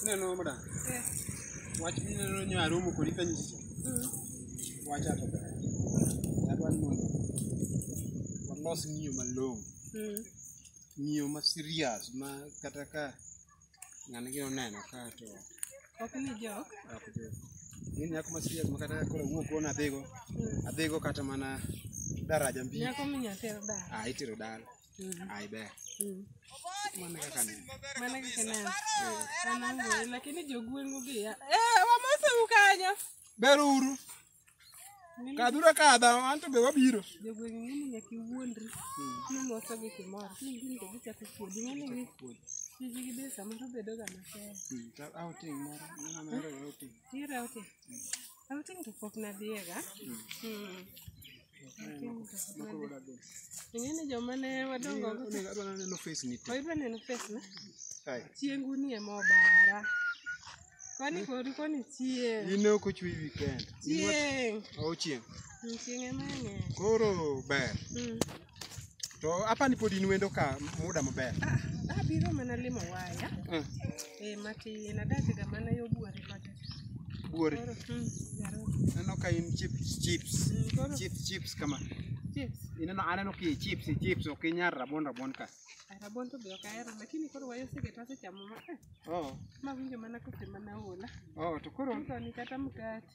Ineno madam? Eh. Wach mineno nyo aromo kodi ka nyisi cha. Mm. Wacha to ber. Adwa ni mondo walos ng'iyo malong'o. Mm. Ng'iyo ma serious ma kata ka ng'ani gi oneno ka to ok ni jok. Ok jok. Ni nyako ma serious ma kata koro wuok ona adhigo. Mm. Adhigo kata mana daraja mbili. Nyako minyatero dala. Ah, itero dala. Ai ber. Mano kaka ne. Mana kaka ne. Anango lakini jogwengu gi. ya- Eh, wamose ukanyo. Ber uru. Kadhura kadha, anto be wabiro. Jogwengu ng'eni nyaka iwuondri. Ni moso gi kimoro. Ni gin to gichako kuodi. Ng'eni gi. Tiji gi be samoro bedoga matek. Outing moro. Mano outing. Tira ote. Outing to pok nadhiyega. Mm. Outing to pok nadhi- Ing'e ni joma ne wadongo go te- Adwa neno face ni te. Oidwa neno face na? Ai. Chiengu ni ema obara. Kwani kori koni chieng'. In ok ochwe weekend. Chieng'. Ochieng. Mm, Chieng' ema ng'eny. Koro ber. Mm. To apani pod in wendo ka muda maber. Ah, abiro mana limo waya. Mm. Eh, mati nadake ga mana yo buore kode. Buore. Koro, mm, yaro. Aneno ka in chips chips. Mm, koro. Chips chips kama. Chips. Ineno aneno ki chips chips ok inyar rabon rabon ka. Ah, Rabon to be ok ahero lakini koro waya oseketo asechamo ma. eh, Oh. Ma winjo mana kose mana ola. Oh, to koro Koro ni kata mkate.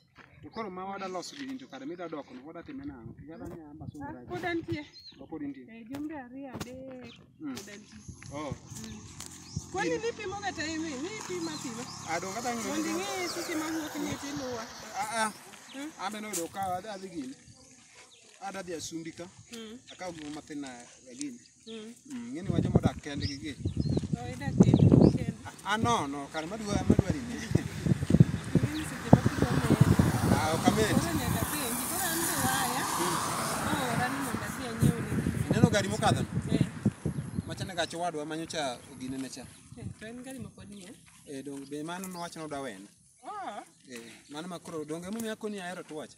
To koro ma wada loso gini to kare mida dok no wada time nang'o? Yada nya amba so Ah, Pod antie. Ba pod intie. Eh, jumbe ariyo adek. Mm. Pod antie. Oh. Kwani nipimoga time ni? Nipima pima. Ado kata ng'e. Mondo ing'e seche ma wuok ni tiluwa. Ah ah. Mm. Ambe no do ka adhi gini. Ada dhi asumbika. Mm. Akaw gima matin na gini. Mm. Mm, ng'eni wacho modak kendgi gi Oh, idak e kend. ah no no kar madwa madwari ni Mimi seche ma kidwa meyo. ah okamet Koro nyaka penji. Koro an be waya. Oora ni mondo adhi anyiew ne gini. ineno gari mokadho no Eh, machane gach owadwa manyocha ogine ne cha eh, to en gari ma pod nie. eh dong be mano nowacho nodwa wena Oh, eh mano makoro donge mumi akoni ahero tuwacha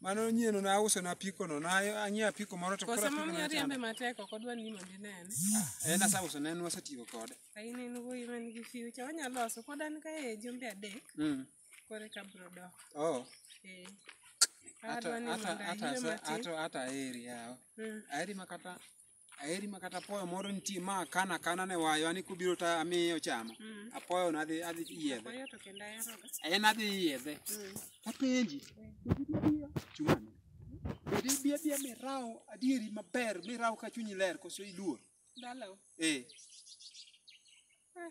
Mano nyieno na uso na apiko no na anyiewo apiko moro to Kose apiko mom no nyari chanda. embe matek ok odwa ni mondo inene. En asa uso ne en wasetiyo kode. Kain en wuoyi man gi future wanyalo loso pod an ka e jumbe adek Mm. kore ka bro dok. Oh. Eh. Ata Adwa ni ata mondo ata ayue sa- matin. ata ata eri yawa. Mm. Aeri makata Aheri ma kata apoyo moro nitie ma akana akana ne wayo ani kubiro ta amiye ochamo. Mm. Apoyo nadhi adhi yiedhe. Apoyo to kenda eroga. En adhi yiedhe. Mm. Apenji. Chumani. Bedi bia bia miraw adieri maber miraw ka chunyi ler koso iluor. Dalo. Eh. Ah.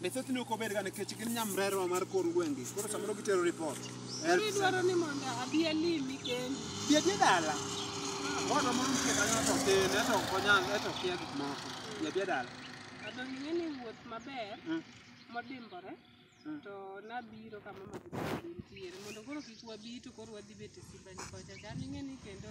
Be thothne ok obedga nikech gin nyamrerwa mar kor gwenge. Koro samoro gitero report. Koro idwaro ni mondo abi alimi kendi. Bi adhi dala. Owadwa moro nitie kanyo to tin, eto ok onyal, eto okia gik moko. Bi adhi dala. Kado ing'e ni wuoth maber Mm. modimbore Mm. to nabiro kama ma nitiere mondo koro kik wabi to koro wadhi bet e sibani kocha chal ing'e ni kendo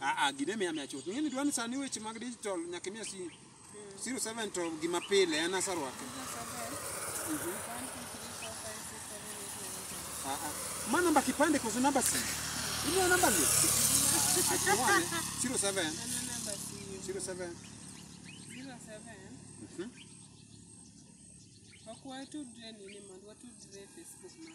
Ah, ah, gine miya miya chuth. Ing'eni dwani sani weche mag digital nyaka imiya si 07 to gima pile en asarwake. Ah, ah. Ma namba kipande koso namba si? Imiya namba ni? Atuwane 07 07 Mhm. Wakuwa tudre nini mondo watudre Facebook man.